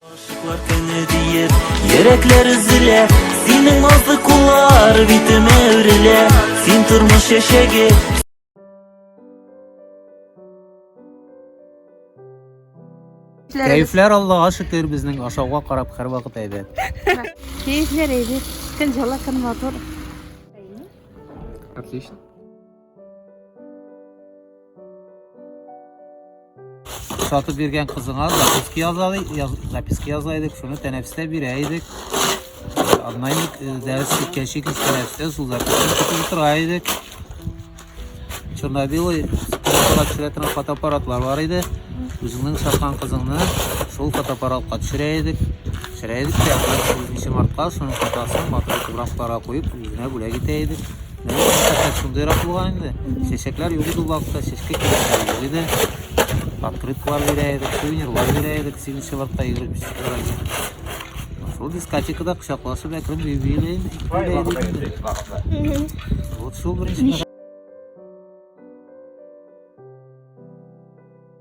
Гашыклар көне диеп, йөрәкләр өзелә, Синең назлы куллар битемә үрелә, Син тормыш чәчәге, Кәефләр Аллага шөкер, безнең ашауга карап һәрвакыт әйбәт. Кәефләр әйбәт, көн җылы, көн матур. Отлично. сатып биргән кызыңа записка язалый, яз, записка язайдык, шуны тәнәфестә бирә идек. Однайник э, дәрес киткәнче киз тәнәфестә сул записканы көтеп утыра идек. Чернобилый фотоаппарат төшерә торган фотоаппаратлар бар иде. Үзеңнең саткан кызыңны шул фотоаппаратка төшерә идек. Төшерә идек тә, 7 мартка шуның фотосын матур фотографларга куеп, үзенә бүләк итә идек. Шундыйрак булган инде. Чәчәкләр юк иде вакытта, чәчкә кирәкләр юк иде. Открыткалар бирә идек, сувенирлар бирә идек, 7 марта 25 февральдә. Шул дискотекада кочаклашып әкрен юбилей итеп. Вот шул беренче